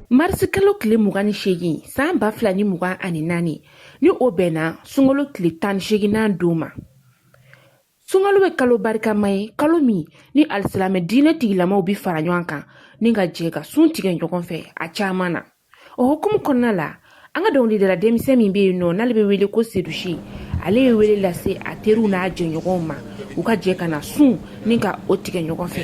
marisikalo tile mugan ni seegin san ba fila ni mugan ani naani ni o bɛnna sunkalo tile tan ni seeginnan don ma sunkalo bɛ kalo barikama ye kalo min ni alisilamɛ diinɛ tigilamaw bɛ fara ɲɔgɔn kan ni ka jɛ ka sun tigɛ ɲɔgɔn fɛ a caman na o hukumu kɔnɔna la an ka dɔnkilidala denmisɛn min bɛ yen nɔ n'ale bɛ wele ko seydou chee ale ye wele lase a teriw n'a jɛɲɔgɔnw ma u ka jɛ ka na sun ni ka o tigɛ ɲɔgɔn fɛ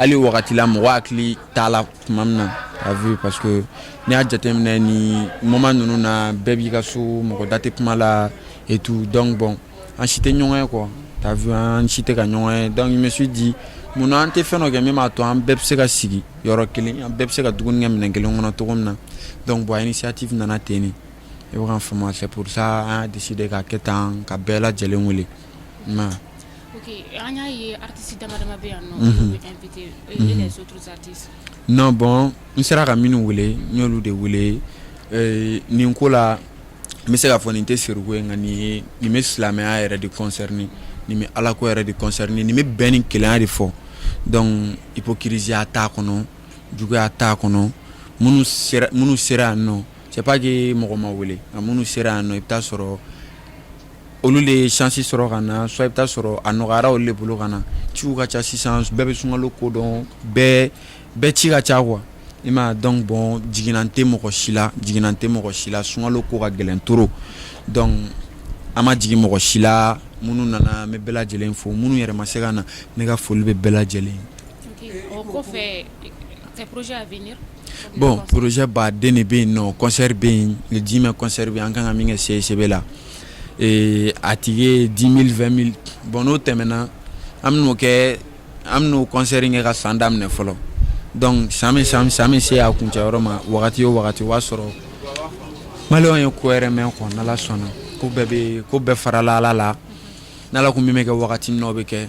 hali wagati la mɔgɔ hakili t'a la tuma min na t'as vu parce que n'i y'a jateminɛ ni moment ninnu na bɛɛ b'i ka so mɔgɔ da tɛ kuma la et tout donc bon an si tɛ ɲɔgɔn ye quoi t'as vu an si tɛ ka ɲɔgɔn ye donc je me suis dit mun na an tɛ fɛn dɔ kɛ min b'a to an bɛɛ bɛ se ka sigi yɔrɔ kelen an bɛɛ bɛ se ka dumuni kɛ minɛn kelen kɔnɔ cogo min na donc bon initiative nana ten de i bɛ ka faamu c'est pour ça an y'a décider k'a kɛ tan ka bɛɛ lajɛlen wele an y'a ye artiste dama bɛ yan non bon n sera ka minnu wele n y'olu de wele nin ko la n bɛ se ka fɔ nin tɛ siriku ye nka nin ye nin bɛ silamɛya yɛrɛ de concerner nin bɛ ala ko yɛrɛ de concerner nin bɛ bɛn ni kelenya de fɔ donc hypocrisieya t'a kɔnɔ juguya t'a kɔnɔ minnu sera yan nɔ c'est pas que mɔgɔ ma wele nka minnu sera yan nɔ i bɛ t'a sɔrɔ olu de ye chance sɔrɔ ka na soit i bɛ t'a sɔrɔ a nɔgɔyara olu de bolo ka na ciw ka ca sisan bɛɛ bɛ sunkalo ko dɔn bɛɛ ci ka ca quoi i m'a ye donc bon jiginan tɛ mɔgɔ si la jiginan tɛ mɔgɔ si la sunkalo ko ka gɛlɛn trop donc an ma jigin mɔgɔ si la minnu nana n bɛ bɛɛ lajɛlen fo minnu yɛrɛ ma se ka na ne ka foli bɛ bɛɛ lajɛlen ye. ok o kɔfɛ tes projets à venir? Bon projet ba den de bɛ yen nɔ concert bɛ yen le dix mai concert bɛ an kan ka min kɛ CICB la ee a ticket ye dix mille vingt mille bon n'o tɛmɛna an bɛ kɛ an bɛn'o concert kɛ ka san daminɛ fɔlɔ donc san bɛ se a kuncɛyɔrɔ ma wagati o wagati o y'a sɔrɔ malienw ye ko wɛrɛ mɛn kɔ n'ala sɔnna ko bɛɛ bɛ ko bɛɛ farala ala la n'ala ko min bɛ kɛ wagati n'o bɛ kɛ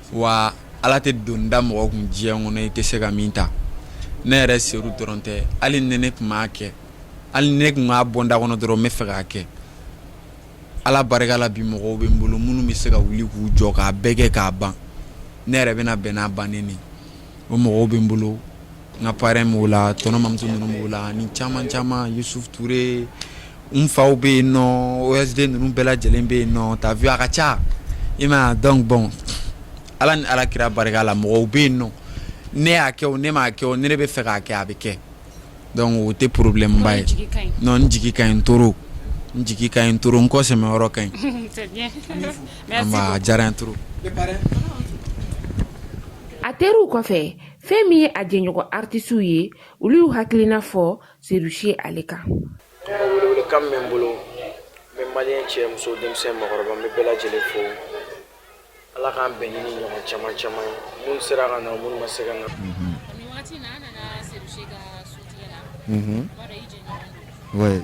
wa ala tɛ doni da mɔgɔ kun diɲɛ kɔnɔ i tɛ se ka min ta ne yɛrɛ seul dɔrɔn tɛ hali ni ne tun b'a kɛ hali ne tun b'a bonda kɔnɔ dɔrɔn n bɛ fɛ k'a kɛ ala barika la bi mɔgɔw bɛ n bolo minnu bɛ se ka wuli k'u jɔ k'a bɛɛ kɛ k'a ban ne yɛrɛ bɛna bɛn n'a bannen ye o mɔgɔw bɛ n bolo N ka parrain b'o la tonton Mamutu ninnu b'o la ni caman caman Yusuf Touré n faw bɛ yen non OSD ninnu bɛɛ lajɛlen bɛ yen non t'as vu a ka ca i m'a dɔn bon ala ni ala kira barika la mɔgɔw bɛ yen non ne y'a kɛ ne m'a kɛ ne bɛ fɛ k'a kɛ a bɛ kɛ o tɛ problème ba ye n jigi ka ɲi trop n jigi ka ɲi trop n kɔsɛmɛyɔrɔ ka ɲi diyara to a teriw kɔfɛ fɛn min ye a jɛɲɔgɔn artisiw ye olu y'u hakilina fɔ Seydou Chee ale kan welewelekan min bɛ n bolo n bɛ maliyɛn cɛ muso denmisɛn mɔgɔkɔrɔba n bɛ bɛɛ lajɛlen fo ala k'an bɛn ni nin ɲɔgɔn caman caman ye minnu sera ka na minnu ma se ka na oui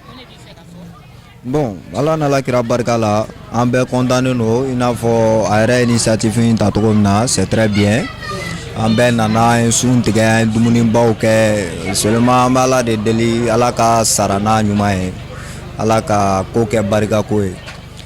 bon ala n'ala kira barika la an bɛɛ kɔntannen don i n'a fɔ a yɛrɛ ye initiative in ta cogo min na c'est très bien an bɛɛ nana an ye sun tigɛ an ye dumunibaw kɛ seulement an bɛ ala de deli ala ka sara n'a ɲuman ye ala ka ko kɛ barikako ye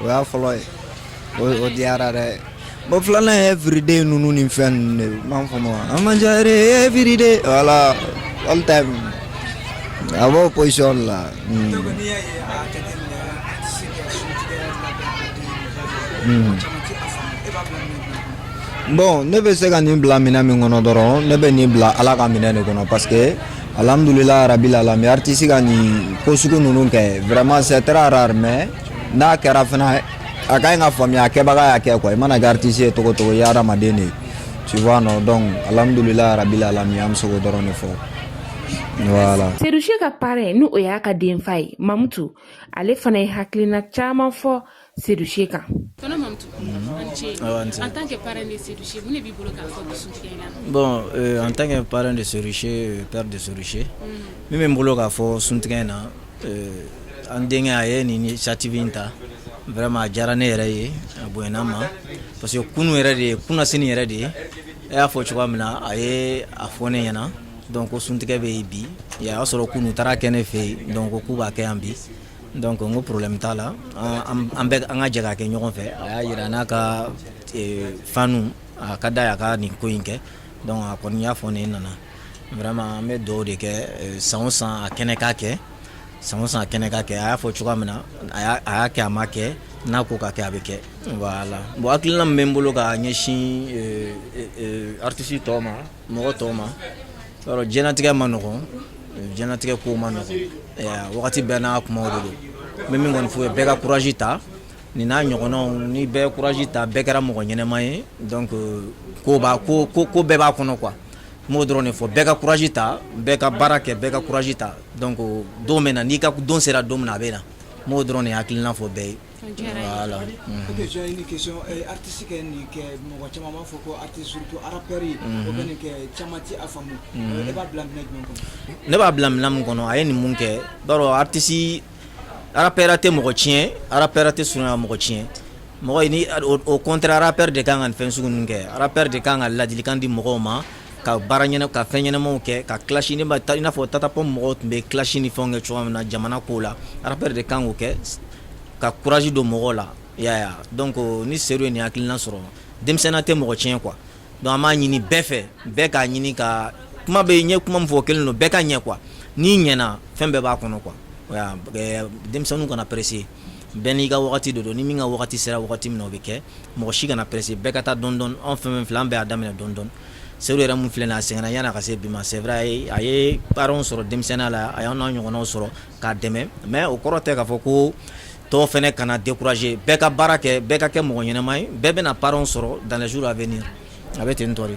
o y'a fɔlɔ ye o diyara dɛ bon filanan ye everyday ninnu ni fɛn ninnu de m'an faamu an man ca yɛrɛ everyday voilà all time a b'o position la. Hmm. Hmm. bon ne bɛ se ka nin bila minɛn min kɔnɔ dɔrɔn ne bɛ nin bila ala ka minɛn de kɔnɔ parce que Alhamdulillah rabil alamin artiste ka nin ko sugu ninnu kɛ vraiment c'est très rare mais n'a kɛra fana a ka ɲi ka faamuya a kɛbaga y'a kɛ quoi i mana kɛ artiste ye cogo cogo i ye hadamaden de ye tu vois non donc alhamdulillah rabil alamin an bɛ se k'o dɔrɔn de fɔ voilà. Seydou Chee ka parrain ni o y'a ka denfa ye Mamutu ale fana ye hakilina caman fɔ Seydou Chee kan en tant que parrain de Seydou Chee mun de b'i bolo bon en tant que parrain de Seydou Chee père de Seydou Chee min bɛ n bolo k'a fɔ suntigɛ in na an denkɛ a ye nin initiative in ta vraiment a diyara ne yɛrɛ ye a bonyana n ma parce que kunun yɛrɛ de ye kunasini yɛrɛ de ye e y'a fɔ cogoya min na a ye a fɔ ne ɲɛna donc ko suntigɛ bɛ yen bi o y'a sɔrɔ kunun taara kɛ ne fɛ yen donc k'u b'a kɛ yan bi Donc n ko problème t'a la an bɛ an ka jɛ k'a kɛ ɲɔgɔn fɛ a y'a jira n na k'a fana a ka d'a ye ka nin ko in kɛ donc a kɔni y'a fɔ ne nana vraiment an bɛ dugawu de kɛ san o san a kɛnɛ k'a kɛ san o san a kɛnɛ k'a kɛ a y'a fɔ cogoya min na a a y'a kɛ a ma kɛ n'a ko k'a kɛ a bɛ kɛ voilà bon hakilina min bɛ n bolo ka ɲɛsin artiste tɔw ma mɔgɔ tɔw ma alors diɲɛlatigɛ ma nɔgɔn diɲɛlatigɛ ko ma nɔgɔn wagati bɛɛ n'a kumaw de don n bɛ min kɔni f'u ye bɛɛ ka courage ta nin n'a ɲɔgɔnnaw ni bɛɛ ye courage ta bɛɛ kɛra mɔgɔ ɲɛnɛma ye donc ko b'a ko ko ko bɛɛ b'a kɔnɔ quoi n b'o dɔrɔn de fɔ bɛɛ ka courage ta bɛɛ ka baara kɛ bɛɛ ka courage ta donc don bɛ na n'i ka don sera don min na a bɛ na n b'o dɔrɔn de hakilina fɔ bɛɛ ye Mɔgɔ caman b'a fɔ ko ne b'a bila minɛn min kɔnɔ a ye nin mun kɛ bari artiste rappeur tɛ mɔgɔ tiɲɛ rappeur tɛ sun mɔgɔ tiɲɛ mais au contraire rappeur de ka kan ka fɛn sugu ninnu kɛ rappeur de ka kan ka ladilikan di mɔgɔw ma ka baara ɲɛna ka fɛn ɲɛnamaw kɛ ka clash ni taa i n'a fɔ Tata Pound mɔgɔw tun bɛ clash ni fɛn kɛ cogoya min na jamana ko la rappeur de kan k'o kɛ ka courage don mɔgɔw la ya donc ni Seydou ye nin hakilina sɔrɔ denmisɛnninya tɛ mɔgɔ tiɲɛ quoi donc an b'a ɲini bɛɛ fɛ bɛɛ k'a ɲini ka kuma bɛ ɲɛ kuma min fɔ kelen don bɛɛ ka ɲɛ quoi n'i ɲɛna fɛn bɛɛ b'a kɔnɔ quoi denmisɛnninw kana pressé bɛɛ n'i ka waati de don ni min ka waati sera wagati min o bɛ kɛ mɔgɔ si kana pressé bɛɛ ka taa dɔɔni dɔɔni anw fɛn filɛ an bɛɛ y'a daminɛ dɔɔni dɔɔni Seydou yɛrɛ min filɛ a sɛgɛnna yan'a ka se bi ma c'est vrai a ye parrains sɔrɔ denmisɛnninya la a y'an n'a ɲɔgɔnw sɔrɔ k'a dɛmɛ mais o kɔrɔ tɛ k'a fɔ ko tɔw fana kana décourager bɛɛ ka baara kɛ bɛɛ ka kɛ mɔgɔ ɲɛnama ye bɛɛ bɛna parrains sɔrɔ dans les jours à venir a bɛ ten tɔ de